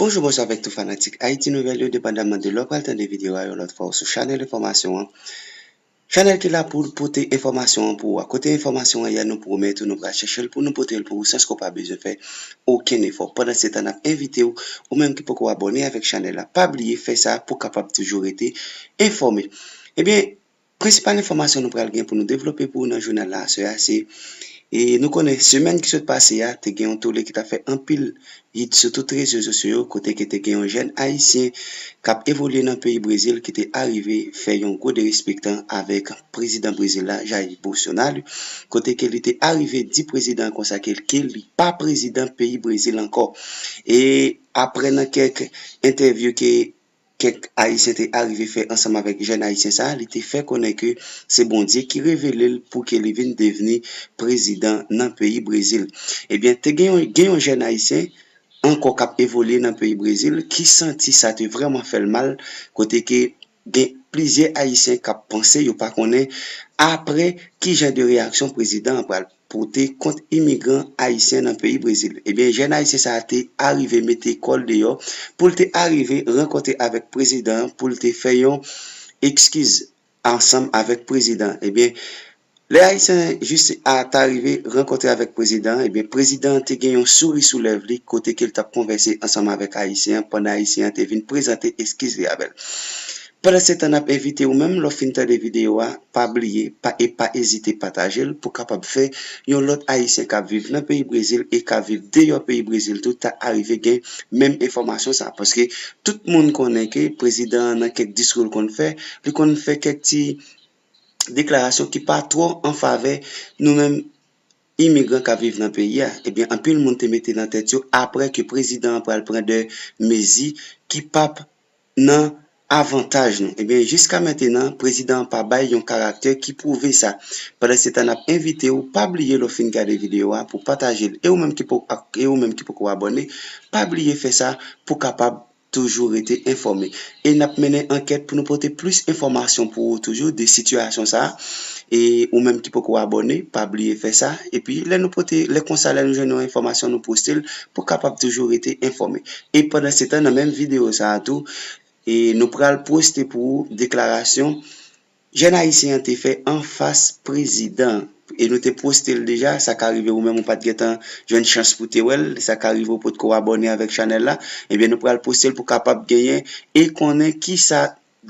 Bonjou bonswa avèk tout fanatik Haïti Nouvelle yo depandaman de lè ou pral tande video a yon lòt fwa ou sou chanèl enfòmasyon an Chanèl ki la poul pote enfòmasyon an pou ou a. Kote enfòmasyon an ye a nou pwomèt ou nou pral chèchel pou nou potel pou ou san ske w pa bezwen fè okenn efò. Pandansetan nap envite w ou menm ki poko abòne avèk chanèl la pa bliye fè sa pou kapab toujou rete enfòme. Ebyen prensipal enfòmasyon nou pral gen pou nou devlope pou ou nan jounal la aswè a se nou konnen semèn ki sot pase a te gen yon tole ki tap fè anpil Hit sou tout rezo sosyo yo kote ke te gen yon jèn ayisyen kap evolye nan peyi Brezil ki te arive fè yon gwo derespektan avèk prezidan Brezil la Jair Bolsonaro kote ke li te arive di prezidan konsa ke ke li pa prezidan peyi Brezil ankò e aprè nan kèk entèvyou ke kèk Ayisyen te arive fè ansanm avèk jèn Ayisyen sa a, li te fè konnen ke se Bondye ki revele l pou ke li vin devni prezidan nan peyi Brezil. Ebyen, te gen yon gen yon jèn Ayisyen ankò k ap evolye nan peyi Brezil ki santi sa te vrèman fè l mal, kote ke gen plizyè Ayisyen k ap panse, yo pa konnen apre ki jan de reyaksyon prezidan an pral. pote kont imigran ayisyen nan peyi Brezil. Ebyen jèn ayisyen sa te arive mete kò l deyò pou l te arive rankontre avèk prezidan an pou l te fè yon ekskiz ansanm avèk prezidan an. Ebyen lè ayisyen jis a ta rive rankontre avèk prezidan an, ebyen prezidan an te gen yon souri sou lèv li kote ke l t ap konvèse ansanm avèk ayisyen an pandan ayisyen an te vin prezante ekskiz li avè l. Pandansetan nap envite ou menm lè w fin tande videyo a pa bliye pa e pa ezite pataje l pou kapab fè yon lòt ayisyen kap viv nan peyi brezil e kap viv deyò peyi brezil tou ta arive gen menm enfòmasyon sa paske tout moun konnen ke prezidan an nan kèk diskou l konn fè li konn fè kèk ti deklarasyon ki pa twò an favè nou menm imigran kap viv nan peyi a ebyen anpil moun te mete nan tèt yo aprè ke prezidan an pral pran de mezi ki pap nan avantaj nou. Ebyen jiska mentenan prezidan an pa bay yon karaktè ki pwouve sa. Pandansetan nap envite w pa bliye lè w fin gade videyo a pou pataje l e ou menm ki poko ak e ou menm ki poko abòne pa bliye fè sa pou kapab toujou rete enfòme e nap mennen ankèt pou nou pote plis enfòmasyon pou ou toujou de sitiyasyon sa e ou menm ki poko abòne pa bliye fè sa epi lè nou pote lè konsa lè nou jwenn yon enfòmasyon nou poste l pou kapab toujou rete enfòme E pandansetan nan menm videyo sa a tou, nou pral poste pou ou deklarasyon jèn ayisyen an te fè anfas prezidan an. E nou te poste l deja, sa ka rive ou menm ou pa t gentan jwenn chans pou w te wè l, sa ka rive ou potko abòne avèk chanèl la, ebyen nou pral poste l pou w kapab genyen e konnen kisa,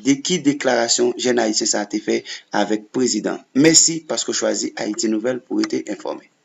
de ki deklarasyon jèn ayisyen sa a te fè avèk prezidan an. Mèsi paske w chwazi Ayiti Nouvèl pou w rete enfòme.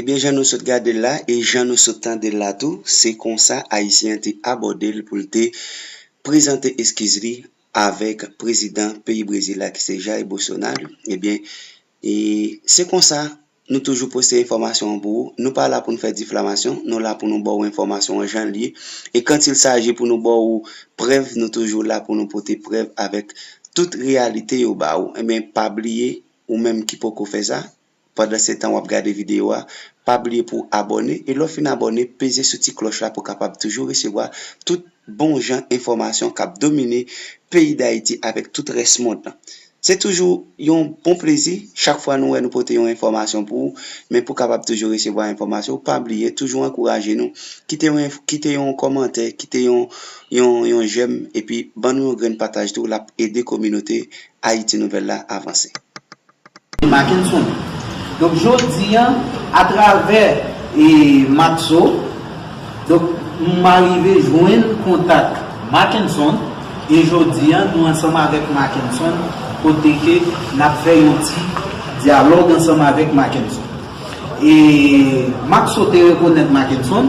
Ebyen jan nou sot gade l la e jan nou sot tande l la tou, se konsa Ayisyen an te abòde l pou l te prezante eskiz li avèk prezidan peyi Brezil la ki se Jair Bolsonaro. Ebyen e se konsa nou toujou poste enfòmasyon an pou ou. Nou pa la pou nou fè diflamasyon, nou la pou nou ba ou enfòmasyon an jan l ye. E quand il s'agit pou nou ba ou prèv, nou toujou la pou nou pote prèv avèk tout reyalite yo ba ou. Ebyen pa bliye ou menm ki poko fè sa, Pandan setan wap gade video a, pa bliye pou w abòne e lè w fin abòne peze sou ti klòch la pou w kapab toujou resevwa tout bon jan enfòmasyon kap domine peyi Dayiti avèk tout rès mond lan. Se toujou yon bon plezi chak fwa nou wè nou pote yon enfòmasyon pou ou, men pou w kapab toujou resevwa enfòmasyon pa bliye toujou ankouraje nou kite yon kite yon kòmantè kite yon yon yon jèm epi ban nou yon grenn pataj tou lap ede kominote Ayiti Nouvèl la avanse. Makenson. Donk jodi an, atravè Matzo, donk m arive jwenn kontak Makenson e jodi an nou ansanm avèk Makenson kote ke n ap fè yon ti dyalòg ansanm avèk Makenson. E Maxo te rekonèt Mackenson,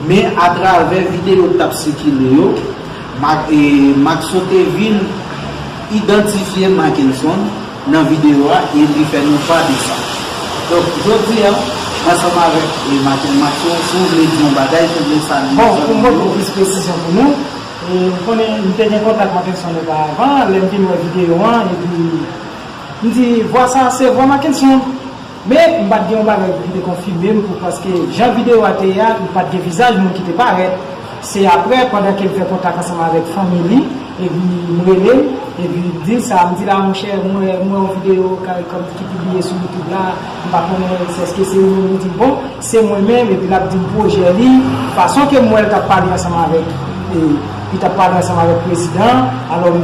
men atravè videyo k t ap sikile yo, Maxo te vin idantifye Mackenson nan videyo a e li fè nou pa de sa. Donk, jodi a, ansanm avèk Mackenson, Maxo, si w vle di yon bagay, si w vle salye yon zam ou yo. Bon, pou m pote plis presizyon pou nou, ou konnen m te gen kontak Mackenson oparavan, lè m fin wè videyo an, epi m di, vwa sa a se vwa Mackenson. Men, m pa t gen yon bagay pou ki te konfime m pou paske jan videyo a te ye a, li pa t gen vizaj moun ki te parèt. Se aprè, pandan ke l fè kontak ansanm avèk fanmi li, epi li rele m, epi li di l sa a. M di l, a monchè, m wè yon videyo Caricom ki pibliye sou YouTube la, m pa konnen si èske se ou menm. Li di m, bon, se mwen menm, epi l ap di m pwojè li. Fason ke m wè l t ap pale ansanm avèk, li t ap pale ansanm avèk prezidan an, alò m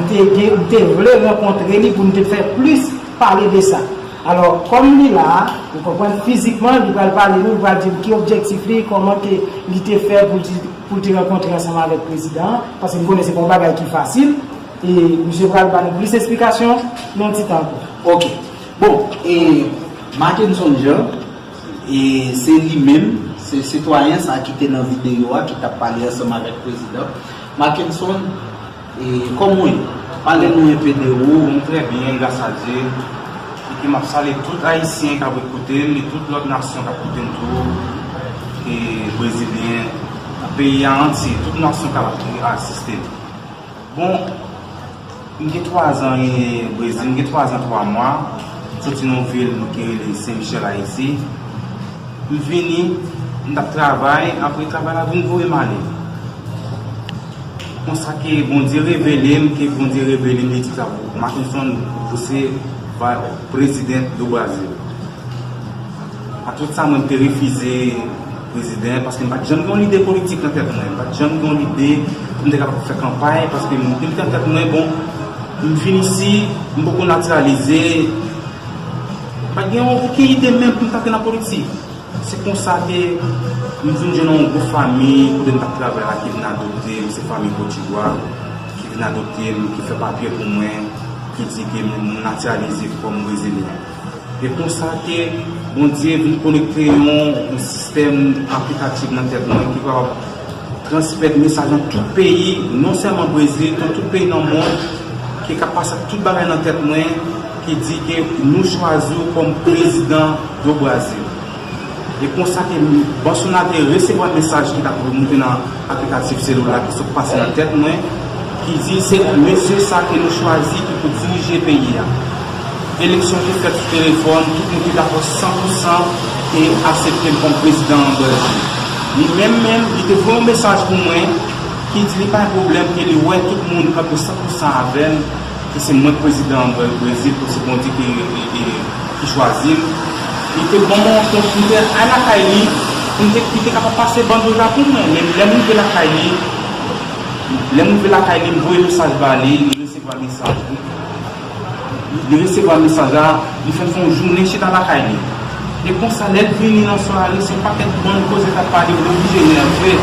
te vle rankontre li pou n te fè plis pale de sa. Alò, kòm li la, ou konprann, fizikman, li pral pale nou, li pral di nou ki objektif li, kòman ke li te fè pou li, pou li te rankontre ansanm avèk prezidan an, paske m konnen se pa yon bagay ki fasil, e misye pral ba nou plis esplikasyon nan yon ti tan ankò. Ok. Bon, e Mackenson Jean, e se li menm, se sitwayen sa ki te nan videyo a ki t ap pale ansanm avèk prezidan, Mackenson, Komw ye? Pale nou enpe de ou. M trè byen gras a Dye. Epi map salye tout ayisyen kap ret koutem e tout lòt nasyon kap koutem tou e brezilyen tout peyi a antye tout nasyon kap asistem. Bon m gen 3 zan brezil m gen 3 zan 3 mwa m soti nan yon vil ki rele sen michèl ayiti m vini m tap travay apre travay la vin voyem ale. Konsa ke Bondye revele m ke Bondye revele m Letica Mackenson ou se president do Brasil a tout sa mwen te refize president paske m pat janm gen yon lide politik nan tèt mwen m pat janm gen yon lide pou m te kapab fè kanpay paske m te mete nan tèt mwen bon m vin isi m poko natiralize m pat gen oken ide menm pou m ta antre nan politik. Se konsa ke m vin jwenn yon gwo fami kote m t ap travay la ki vin adopte m, se fami Kodivwa ki vin adopte m, ki fè papye pou mwen, ki di ke m natiralize kòm Brezilyen. E konsa ke Bondye vin konekte yon sistèm aplikatif nan tèt mwen ki kapab. Transmèt mesaj nan tout peyi, non sèlman Brezil, nan tout peyi nan mond, ki ka pase ak tout bagay nan tèt mwen, ki di ke nou chwazi w kòm prezidan do Brazil. E konsa ke Bansona te resevwa mesaj ki t ap remoute nan aplikatif selula ki sot pase nan tèt mwen, ki di se mesye sa ke nou chwazi ki pou dirije peyi a. Eleksyon te fèt sou telefòn, tout moun te dakò san pou san e asepte l kòm prezidan an Brezil. Li menm menm, li te voye yon mesaj pou mwen ki di li pa gen pwoblèm e li wè tout moun kanpe san pou san avè l ke se mwen k prezidan an Brezil ke se Bondye ki chwazi m. Li te ban mwen yon kont pou m te al lakay li pou m te, li te kapab pase bandyòl la pou mwen. Men lè m rive lakay li, lè m rive lakay li m voye mesaj ba li, li resevwa mesaj li. Li resevwa mesaj la, li fè son jounen chita lakay li. E konsa lè l vini nan sware son pakèt bann koze k ap pale li oblije nève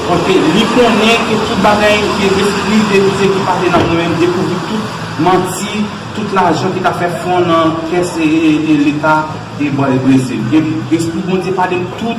paske li konnen ke tout bagay ke lespri verite ki pale nan mwen menm dekouvri tout manti, tout lajan ki ta fè fon nan kès leta e bwazebwezi. Espri Bondye pale m tout.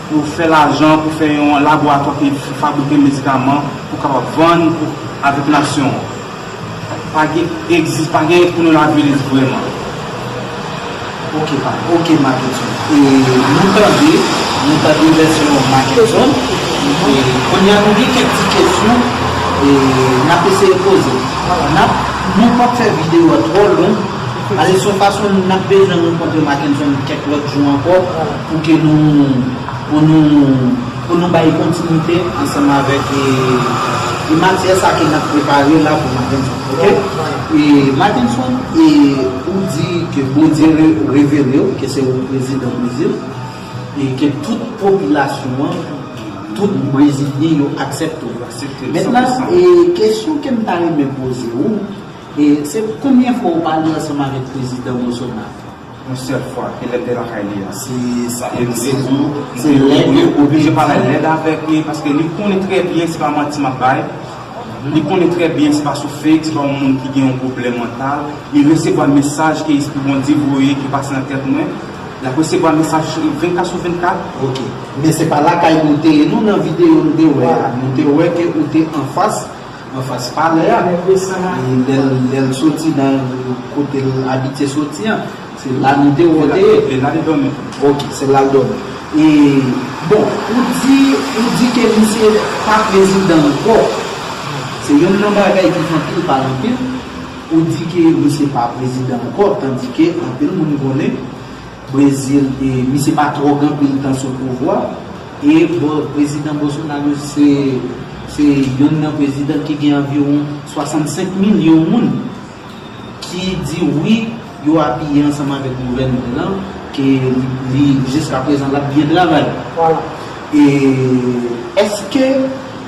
Pou fè lajan, pou fè yon laboratwa ki fabrike medikaman pou kapab vann avèk nasyon an. Pa gen egzis, pa gen pou nou laviris vrèman. Ok pa, ok Makenson. E nou tande, nou tande vèsyon Makenson. E kounye a nou gen kèk ti kesyon e n ap eseye poze. N ap, nou p ap fè videyo a twò long. Alèz son fason n ap bezwen rankontre Makenson kèk lòt jou ankò. Pou ke nou, pou nou, pou nou bay kontinite ansanm avèk e matyè sa ke nap prepare la pou matenson ok e matenson e ou di ke Bondye reverew ke se ou prezidan brezil e ke tout popilasyon an tout brezilyen yo aksepte w mentnan e kesyon kem ta renmen poze ou e se konbyen fwa ou pale ansanm avèk prezidan Bolsonaro? Yon sèl fwa ke lèd te lakay li a si sa egziste toujou se lèd li oblije pale lèd avèk li paske li konnen trè byen se pa manti map bay li konnen trè byen se pa sou fake se pa yon moun ki gen yon pwoblèm mantal li resevwa mesaj ke espri Bondye voye ki pase nan tèt mwen lap resevwa mesaj 24 sou 24 ok men se pa lakay nou te ye nou nan videyo nou te wè a nou te wè ke ou te anfas. Anfas palè a, lè l soti nan kote l abitye soti an, se la nou te wè l te ye. Se la li dòmi. Ok, se la l dòmi. E, bon, ou di, ou di ke misye pa prezidan ankò. Se yonn nan bagay ki fè anpil pale anpil. Ou di ke misye pa prezidan ankò, tandike anpil moun konnen. Brezil e misye pa tro gen anpil tan sou pouvwa e prezidan Bolsonaro se youn nan prezidan ki gen anviwon 65 milyon moun ki di wi yo apiye ansanm avèk gouvènman lan ke li jiska prezan lap byen travay e eske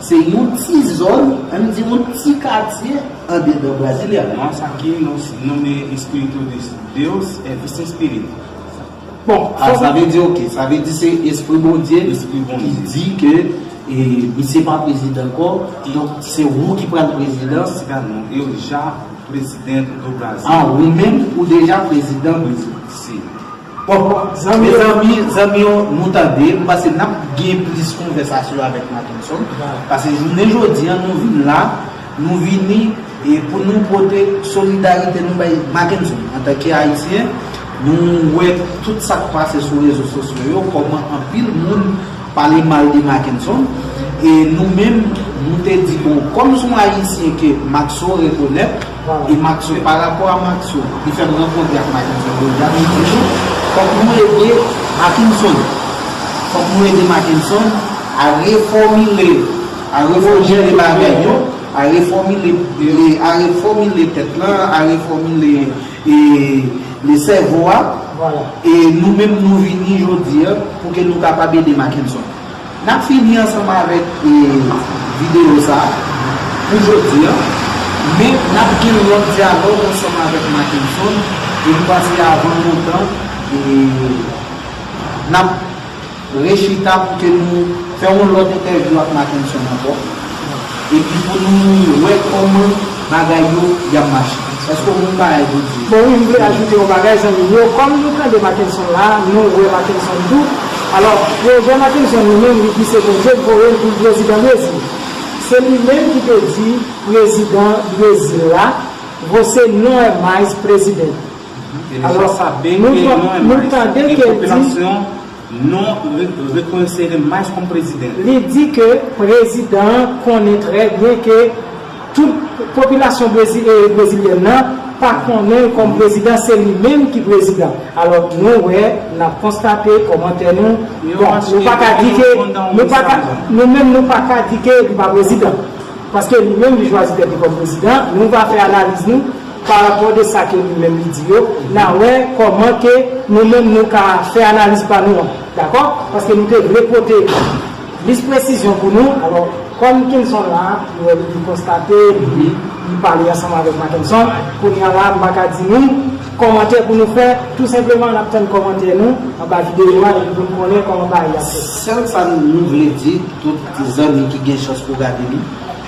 Se yon ti zòn, an n di yon ti katye andedan Brasilia. Mons aqui nos nome é Espírito de Deus é Vicent Spirit. Bon, ah sa vle di ok, sa vle di se Espri Bondye ki di ke misye pa prezidan ankò, donk se ou ki pral prezidan. Siga non, eu já presidente do Brasil. Ah, ou menm ou deja prezidan. Si. Bon mezanmi zanmi yo nou tande m panse n ap gen plis konvèsasyon avèk Mackenson pase jounen jodi an nou vin la nou vini pou nou pote solidarite nou bay Mackenson antanke ayisyen nou wè tout sa k pase sou rezo sosyo yo kòman anpil moun pale mal de Mackenson e nou menm nou te di bon kòm s on ayisyen ke Mackso rekonèt. E Maxo e pa rapò a Maxo li fè m rankontre ak Mackenson Deja li di nou fòk nou ede Mackenson fòk nou ede Mackenson a refòmile a refòmile bagay yo a refòmile a refòmile tèt lan a refòmile e sèvo a e nou menm nou vini jodi a pou ke nou kapab ede Mackenson. Nap fini ansanm avèk videyo sa pou jodi an, men nap gen lòt dyalòg ansanm avèk Mackenson epi pase avan lontan nap rechita pou ke nou fè yon lòt entèvyou ak Mackenson ankò Epi pou nou wè kòman bagay yo yap mache. Eske w konn yon bagay pou di? Bon wi m vle ajoute yon bagay zanmi m yo, kòm nou tande Mackenson la, nou wè Mackenson tou, alò pwojè Mackenson li menm li di se Bondye k voye l pou l prezidan Brezil. Se li menm ki te di prezidan Brezil la José non é mais presidente. Alò nou tande ke l di Non, reconnaissez-le mais comme president. Li di ke prezidan an konnen trè byen ke tout popilasyon brezilyèn nan pa konnen l kòm prezidan, se li menm ki prezidan. Alò nou wè, n ap konstate, kòmantè nou, bon, nou pa ka di ke, nou pa ka, nou menm nou pa ka di ke li pa prezidan. Paske li menm li chwazi tèt li kòm prezidan, nou va fè analiz nou. Pa rapò de sa ke li menm li di yo, na wè kòman ke nou menm nou ka fè analiz pa nou an. Dakò? Paske nou te vle pote plis presizyon pou nou. Alò, kòm Kenson la, li wè li konstate, li pale ansanm avèk Mackenson, kounye a la, m pa ka di nou kòmantè pou nou fè. Tou senpleman, n ap tann kòmantè nou anba videyo a epi pou n konnen kòman bagay yo ap fèt. Sèl sa nou vle di tout zanmi ki gen chans pou gade li.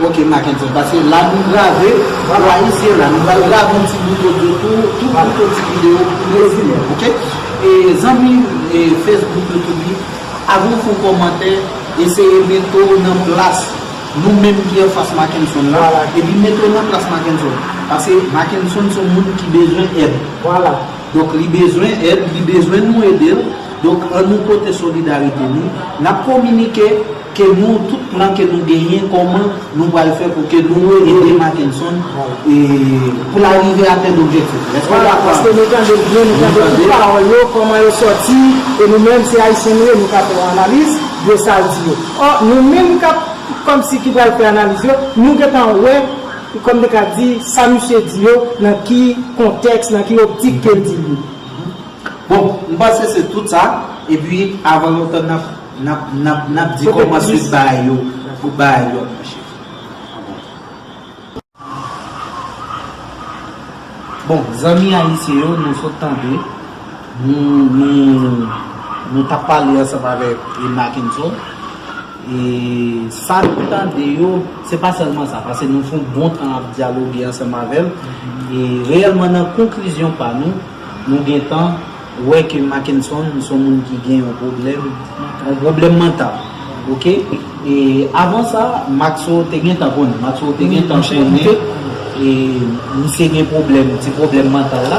Ok Mackenson pase la nou grave pou ayisyen la nou pral grave yon ti bout odyo tou tou pou fè ti video pou rezime ok e zanmi Facebook youtube li avan ou fè yon kòmantè eseye mete w nan plas nou menm ki anfas Mackenson la epi mete w nan plas Mackenson pase Mackenson son moun ki bezwen èd donk li bezwen èd li bezwen nou ede l donk an nou pote solidarite nou nap kominike. Ke nou tout plan ke nou genyen koman nou pral fè pou ke nou ede Mackenson pou la rive atenn objektif li. Eske nou dakò avèm? Vwala, paske nou tande l byen, nou tande tout pawòl yo, koman yo sòti, e nou menm se Ayisyen nou ye, nou ka fè yon analiz de sa l di yo. Ò, nou menm kap kòmsi ki pral fè analiz yo, nou gentan wè, kòm te ka di, sa misye di yo nan ki kontèks, nan ki optik ke l di l yo. Bon, m panse se tout sa, epi avan lontan nap. Nap nap nap di koman sweet ba yo pou ba yo nan chif. Bon zanmi ayisyen yo nou sot tande nou tap pale ansanm avèk Makenson e sa nou tande yo se pa sèlman sa pase nou fon bon tan ap dyaloge ansanm avèl e reyèlman nan konklizyon pa nou nou gentan Ou wè ke Mackenson son moun ki gen yon pwoblèm, yon pwoblèm mantal. Ok? E avan sa, Maxo te gentan konnen. Maxo te gentan konnen misye gen pwoblèm, ti pwoblèm mantal la.